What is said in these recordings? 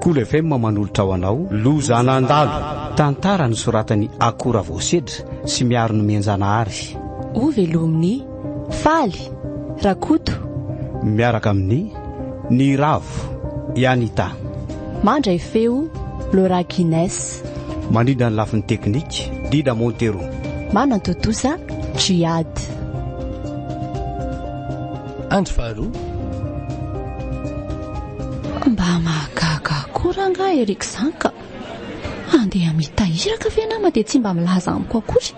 Cool FM manolotra ho anao Loza nandalo, tantara nosoratan'i Ako Ravaosedra sy Miaro Nomenjanahary. Ho velomin'i Faly Rakoto. Miaraka amin'i Ny Ravo, i Anita. Mandray feo, Laura Guines. Mandrindra ny lafiny teknika, Dida Montero. Manantontosa, Djihad. Andro faharoa. Mba mahagaga koa rangah Eric izany ka! Andeha hamita iraka ve nama dia tsy mba milaza amiko akory?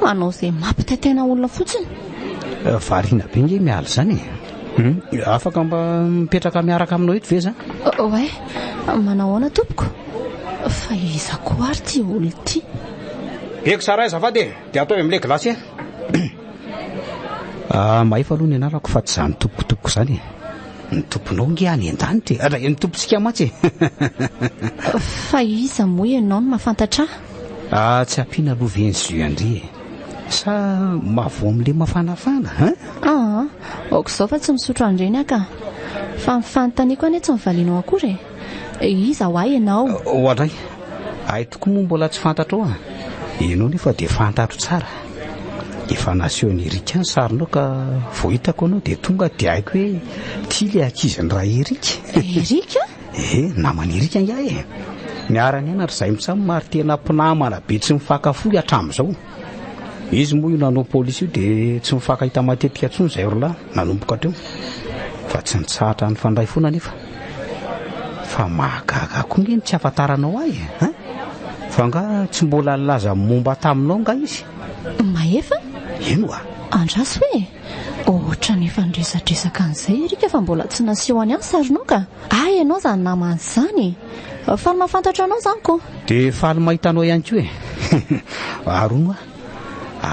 Manao izay mampitaitaina olona fotsiny. Eh, variana be nge miala izany e! Hmm? Afaka mba mipetraka miaraka aminao eto ve za? Oe, manao ahoana tompoko? Fa iza koa ary ty olona ty? Beko sa raiza va dia? Dia ataovy amin'ilay gilasy e! Ah, mahefa aloha ny anarako fa tsy izaho ny tompoko tompoko izany e! Ny tomponao ange any an-danitra e! Ary ny tompontsika mantsy e! Fa iza moa ianao no mahafantatra ahy? Ah, tsy ampiana aloha ve ny jus an-dry e! Sa mahavoa amin'ilay mafanafana hein? Ah, aoka izao fa tsy misotro an'ireny aho ka! Fa ny fanontaniako anie tsy nivalianao akory e! Iza ho ahy ianao? Ho anay. Ahy tokoa moa mbola tsy fantatrao an! Ianao nefa dia fantatro tsara. Efa nasehon'i Erika ny sarinao ka vao hitako anao dia tonga dia haiko hoe ity ilay ankizin'i Ra-Erika. Erika? Eh, naman'i Erika angaha e! Niara-nianatra izahay mitsam ary tena mpinamana be tsy mifankafoy hatramin'izao. Izy moa io nanao police io dia tsy mifankahita matetika intsony izay roa lahy nanomboka hatreo fa tsy nitsahatra nifandray foana nefa fa mahagaga koa nge ny tsy afantaranao ahy eh? hein? fa nga tsy mbola nilaza momba taminao nga izy Mahefa? ino a Andraso hoe ohatrany efa niresadresaka an'izay erika fa mbola tsy naseho any an sarinao ka Ah ianao izany namana izany e! Faly mahafantatra anao izany ko! Dia faly mahita anao ihany koa e! Ary hono hoa,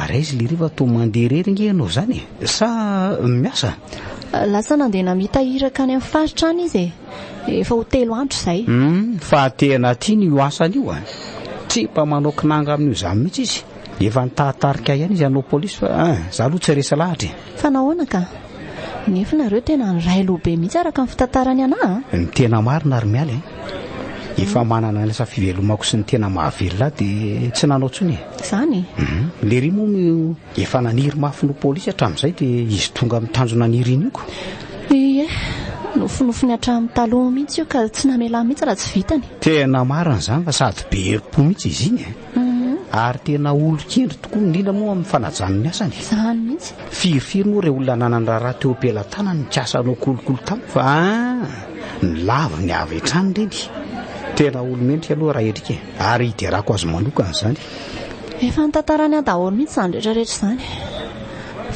ary aiza ilay riva toa mandeha irery ange ianao izany e! Sa miasa? Lasa nandeha namita iraka any amin'ny faritra any izy e! Efa ho telo andro izay. Hum, fa tena tiany io asany io a! Tsy mba manao kinanga amin'io izany mihitsy izy. Efa nitaritarika ihany izy hanao polisy fa ah, izaho aloha tsy resy lahatra e! Fa nahoana ka? Nefa nareo tena niray loha be mihitsy araka ny fitantarany anah a! Ny tena marina ary miala e! Efa manana ny lasa fivelomako sy ny tena mahavelona ahy dia tsy nanao intsony e! Izany? Lery moa no efa naniry mafy ny ho polisy hatramin'izay dia izy tonga amin'ny tanjona niriniako. Ie, nofinofiny hatramin'ny taloha mihitsy io ka tsy namelany mihitsy raha tsy vitany. Tena marina izany fa sady be herim-po mihitsy izy iny e! Ary tena olon-kendry tokoa, indrindra moa amin'ny fanajana ny asany. Izany mihitsy. Firifiry moa ireo olona nanana raharaha teo am-pelatanany nikasa hanao kolikoly tamiko fa ny laviny avy hatrany ireny. Tena olo-mendrika aloha raha endrika e. Ary hiderako azy manokana izany. Efa nitantarany ahy daholo mihitsy izany rehetra rehetra izany.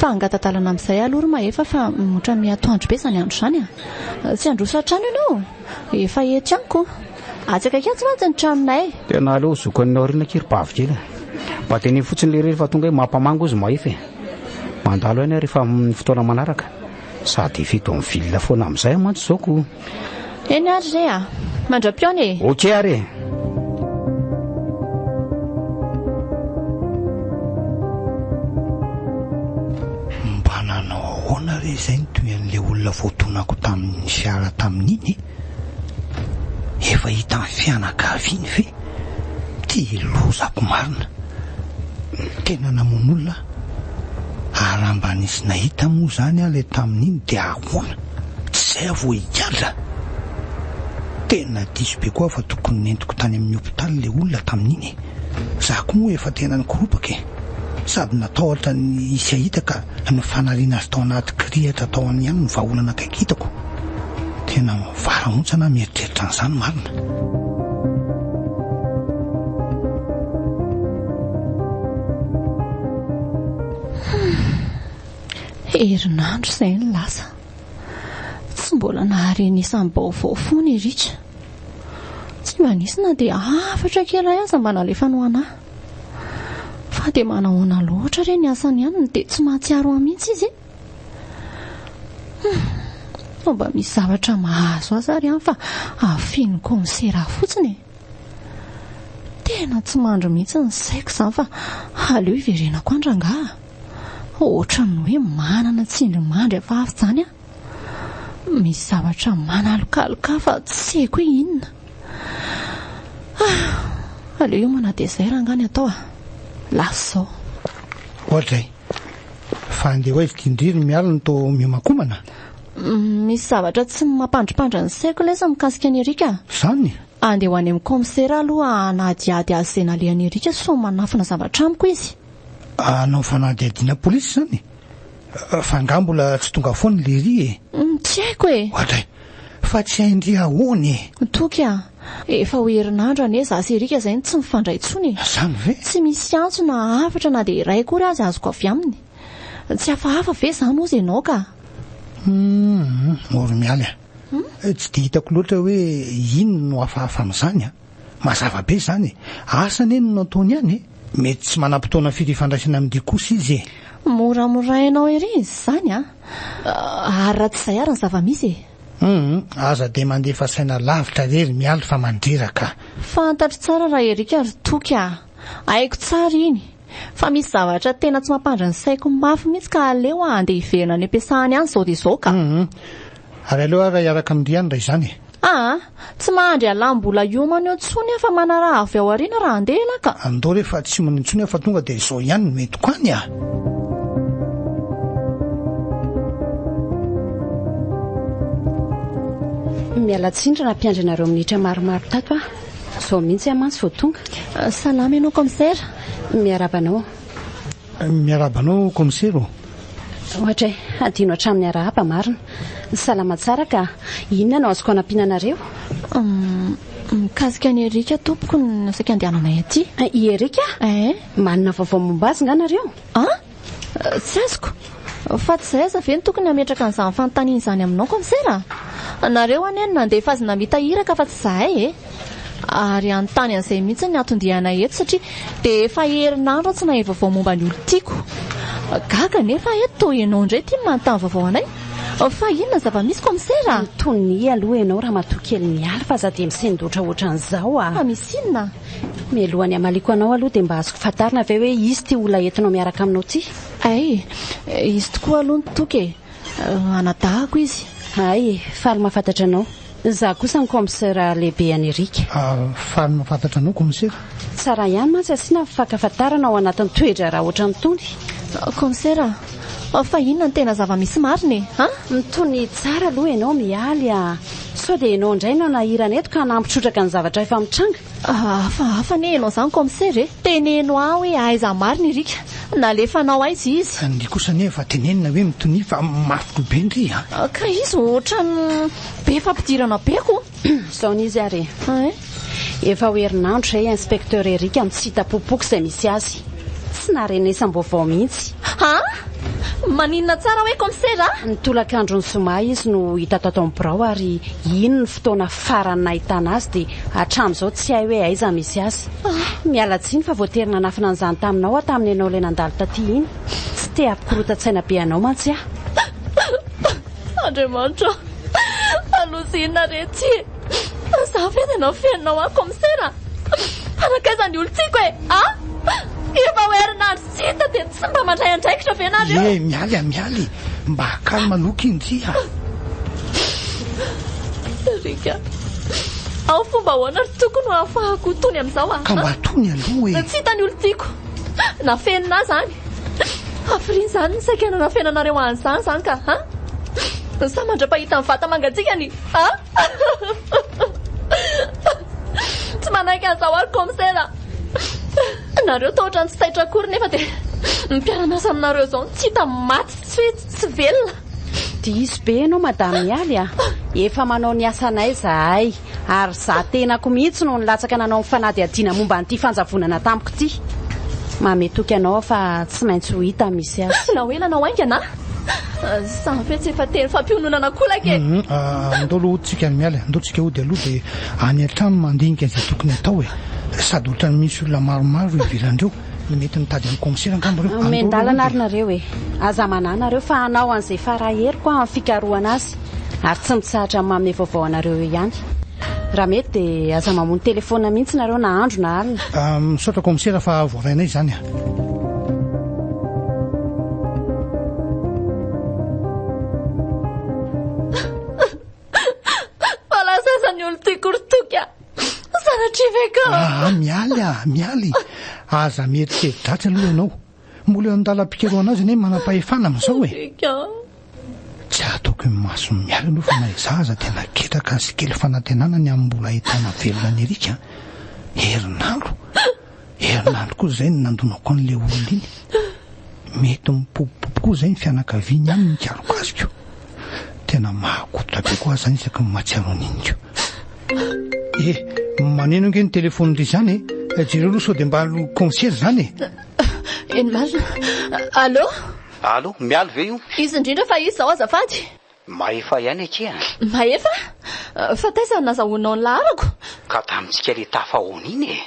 Fa hangatadalana amin'izay aloha ry Mahefa fa ohatran'ny atoandro be izany andro izany a! Tsy handroso hatrany ianao, efa ety amiko. Atsaka atsy mantsy ny tranonay. Tena aleo zokan'ny aoriana akia ry bavy kely a. Mba teneno fotsiny lery rehefa tonga eo mampamango izy mahefa e. Mandalo ihany aho rehefa amin'ny fotoana manaraka. Sady efa eto amin'ny ville foana amin'izay aho mantsy izao ko. Eny ary re a. Mandra-pihaona e. Ok ary e. Mba nanao ahoana re izay ny tohin'ilay olona voatonako tamin'ny fiara tamin'iny e. Efa hitan'ny fianakaviany ve ty lozako marina? Tena namono olona aho ary raha mba nisy nahita moa izany aho ilay tamin'iny dia ahoana? Tsy izay aho vao higadra? Tena diso be koa aho fa tokony nentiko tany amin'ny hopitaly ilay olona tamin'iny e! Izaho koa moa efa tena nikoropaka e! Sady natahotra ny hisy hahita ka ny fanariana azy tao anaty kirihitra tao amin'ny ihany no vahaolana akaiky hitako. Tena mivara montsy ana mieritreritra an'izany marina. Herinandro izay ny lasa. Tsy mbola nahare ny isam-baovao foana i Richa. Tsy mba nisy na dia hafatra kely iray aza mba nalefany ho anà. Fa dia manahoana loatra re ny asany ihany no dia tsy mahatsiaro ahy mihitsy izy e. Mba misy zavatra mahazo azy ary an fa afino konsera fotsiny e. Tena tsy mandry mihitsy ny saiko izany fa aleo hiverenako an rangaha. Ohatran'ny hoe manana tsindrimandry hafahafa izany aho. Misy zavatra manalokaloka ahy fa tsy haiko hoe inona. Ah, aleo hiomana dia izay rangaha ny atao ah. Lasa izao. Ohatray. Fa andeha ho aiza ity indry ry Mialy no toa miomankomana? Misy zavatra tsy mampandripandra ny saiko lesy mikasika an'i Erika. Izany? Andeha ho any amin'ny kaomisera aloha hanadihady azy izay nalehan'i Erika sao manafina zavatra amiko izy. Hanao fanadihadiana polisy izany? Fa angaha mbola tsy tonga foana i Lery e? Tsy haiko e! Oadray! Fa tsy hain-dry ahoana e! Toky a! Efa ho herinandro anie za sy Eric zay no tsy mifandray intsony e! Zany ve? Tsy misy antso na hafatra na dia iray akory aza azoko avy aminy. Tsy hafahafa ve zany hozy ianao ka? Humm, Moromialy a! Tsy dia hitako loatra hoe inona no hafahafa amin'izany a! Mazava be izany e! Asa anie no nataony any e! Mety tsy manam-potoana firy hifandraisana amin'ny dia kosa izy e! Moramorainao ery izany a! Ary raha tsy izay ary ny zava-misy e! Humm, aza dia mandefa saina lavitra re ry Mialy fa mandreraka a! Fantatro tsara raha Eric ry Toky a! Haiko tsara iny! Fa misy zavatra tena tsy mampandry ny saiko mafy mihitsy ka aleo handeha hiverina any am-piasany any izao dia izao ka! Humm, ary aleo ary raha hiaraka amin-dry ihany raha izany e! Aa! Tsy mahandry alam bola hiomana eo tsony aho fa manaraha avy ao aoriana raha handeha ialahy ka! Andao re fa tsy hiomana intsony aho fa tonga dia izao ihany no entiko any a! Miala tsiny raha nampiandry anareo minitra maromaro tato aho. Izao mihitsy aho mantsy vao tonga. Salama ianao Kaomisera. Miarahaba anao. Miarahaba anao Commissaire ô! Ohatra e! Hadino hatramin'ny arahaba marina! Salama tsara ka! Inona no azoko hanampiana anareo? Umm, mikasika an'i Eric tompoko no saika andehananay aty. I Eric? Eh! Manana vaovao momba azy nga nareo? Ah! Tsy azoko! Fa tsy zay aza ve no tokony hametraka an'izany fanontaniana izany aminao Commissaire? Nareo anie no nandefa azy namita iraka fa tsy zahay e! ary hanontany an'izay mihitsy ny hatondianay eto satria dia efa herinandro aho tsy nahay vaovao momba ny olon-tiako. Gaga nefa eto toa ianao indray ity manontany vaovao anay. Fa inona zava-misy komisera? Antonia aloha ianao ramatoa kely mialy fa za dia misendoatra ohatran'izao a. Ah. Fa misy inona? Mialoha ny hamaliako anao aloha dia mba azoko fantarina ve hoe izy ity olona entinao miaraka aminao ity? Ay, izy tokoa aloha ny toky e. Anadahako izy. Ay e, faly mahafantatra anao. Za kosa ny comsera lehibe any Erica. Ah faly mahafantatra anao comsera. Tsara ihany mantsy asiana ny fankafantarana ao anatin'ny toedraharaha ohatran'itony. Comsera ah fa inona ny tena zavamisy marina e ah? Mitony tsara aloha ianao Mialy ah. Sao dia ianao indray no hanahirana eto ka hanamby trotraka ny zavatra efa mitranga? Hafahafa anie ianao izany comsera e! Teneno ahy hoe aiza marina i Rika? Nalefanao aiza izy? Ny kosa anie efa tenenina hoe mitonia fa mafy loha be ndry a! Ka izy ohatran'ny be fampidirana be ko! Zao n'izy ary e! Hein? Efa ho herinandro izay inspecteur Eric no tsy hita popoka izay misy azy. Tsy naharenesam-baovao mihitsy. Ha? Maninona tsara hoe comsera? Ny tolakandron'ny zoma izy no hita tato amin'ny birao ary iny ny. fotoana farany nahitana azy dia hatramin'izao tsy hay hoe aiza misy azy. Ah, miala tsiny fa voatery nanafina an'izany taminao aho tamin'ny ianao ilay nandalo taty iny. Tsy te hampikorontan-tsaina be anao mantsy aho. Andriamanitra ô! Fa loza inona re ity e! Fa za ve dia nafeninao aho kaomisera? Fa nankaiza ny olon-tiako e! Ah! Efa ho herinandro Tsy hita dia tsy mba mandray andraikitra ve nareo? Ye, Mialy a, Mialy, mba calme aloha kinji a. Sariaka, ao fomba ahoana ry toko no ahafahako tony amin'izao a? Ka mba tony aloha e. Tsy hita ny olon-tiako. Nafenina izany. Hafiriana izany ny saika nanafenanareo ahy an'izany izany ka a! Sa mandra-pahita ny vata mangatsiakany a? Tsy manaiky an'izao ary kaomisera a. Nareo tahotra ny tsy taitra akory nefa dia ny mpiara-miasa aminareo izao no tsy hita maty sy tsy hoe tsy velona. Diso be ianao Madame Mialy a! Efa manao ny asanay izahay ary za tenako mihitsy no nilatsaka nanao ny fanadihadiana momba an'ity fanjavonana tampoka ity. Mamehy toky anao aho fa tsy maintsy ho hita misy azy. Na ho ela na ho haingana a! Samy hoe tsy efa teny fampiononana kolaka e! Andao aloha tsika ny miala e! Andao tsika hody aloha dia any an-trano mandinika izay tokony atao e! Sady ohatran'ny misy olona maromaro ivelandreo, mety mitady an'i Komisera angamba reo! Omen-dalana ary nareo e! Aza manahy nareo fa hanao an'izay fara heriko aho amin'ny fikarohana azy ary tsy mitsahatra ny manome vaovao anareo eo ihany. Raha mety dia aza mamono telefaonina mihitsy nareo na andro na alina. Misaotra Komisera fa voarainay izany. aza mieritreridratsy aloha ianao, mbola eo an-dalam-pikarohana azy anie manam-pahefana amin'izao e. Tsy ataoko imason'ny mialy aloha fa na izaho aza dia naketraka sy kely fanantenana ny amin'ny mbola ahitana velona an'i Eric. Herinandro! Herinandro koa izay no nandonako an'ilay olona iny. Mety mipopopopy koa izay ny fianakaviany aminy nikarokasikio. Tena mahakototra be koa aho izany isaky ny mahatsiaro an'iny ko. Eh, maneno ange ny telefaonindry izany e. Jereo aloha sao dia mba concierge izany e. Eny marina. Allô? Allo, Mialy ve io? Izy indrindra fa izy izao azafady. Mahefa ihany akia. Mahefa? Fa taiza no nazahoanao ny laharako? Ka tamintsika le tafahaona iny e!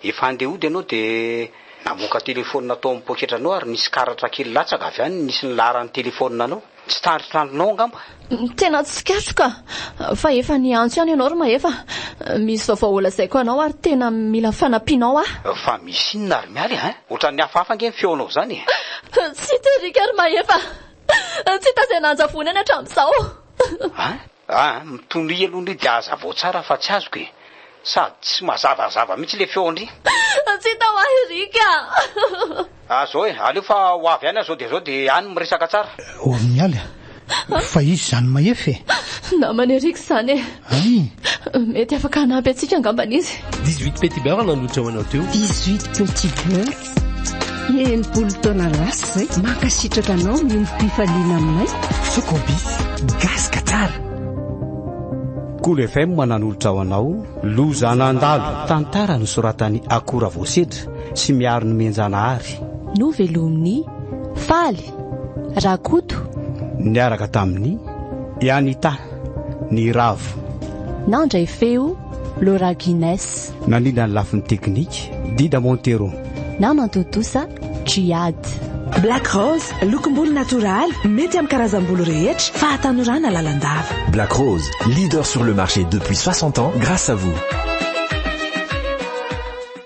Efa handeha hody ianao dia namoaka telefaonina tao amin'ny poketranao ary nisy karatra kely latsaka avy any nisy ny laharan'ny telefaoninanao. Tsy tandrintranonao angamba? Tena tsikatroka fa efa niantso ihany ianao ry Mahefa. Misy vaovao holazaiko anao ary tena mila fanampianao aho. Fa misy inona ry Mialy a? Ohatran'ny hafahafa ange ny feonao izany e! Tsy terika ry Mahefa. Tsy hita izay nanjavona eny hatramin'izao. A! A! Mitonia aloha ny dia hazavao tsara fa tsy azoko e! Sady tsy mazavazava mihitsy le feo ndry. Tsy hita ho ahy Rick a! Ah zao e, aleo fa ho avy any aho zao dia zao dia any miresaka tsara. Ory Mialy a! Fa izy izany Mahefa e! Namana i Rick izany e! Ay! Mety afaka hanampy antsika angambany izy. Dix-huit petits beurres nandroitra ho anao teo. Dix-huit petits beurres. Enimpolo taona lasa izay. Mankasitraka anao miombom-pifaliana aminay. Sokobi, gasy ka tsara. Cool FM mananolotra ho anao Loza nandalo. Tantara nosoratan'i Akora Voasedra sy Miaro Nomenjanahary. Novelomin'i Faly Rakoto. Niaraka tamin'i Anita Niravo. Nandray feo Laura Guinness. Nandrindra ny lafiny teknika, Dida Montero. Na mantontosa, Djihad. Black Rose, lokom-bolo natoraly, mety amin'ny karazam-bolo rehetra, fahatanorana lalandava. Black Rose, leader sur le marché depuis 60 ans grâce à vous.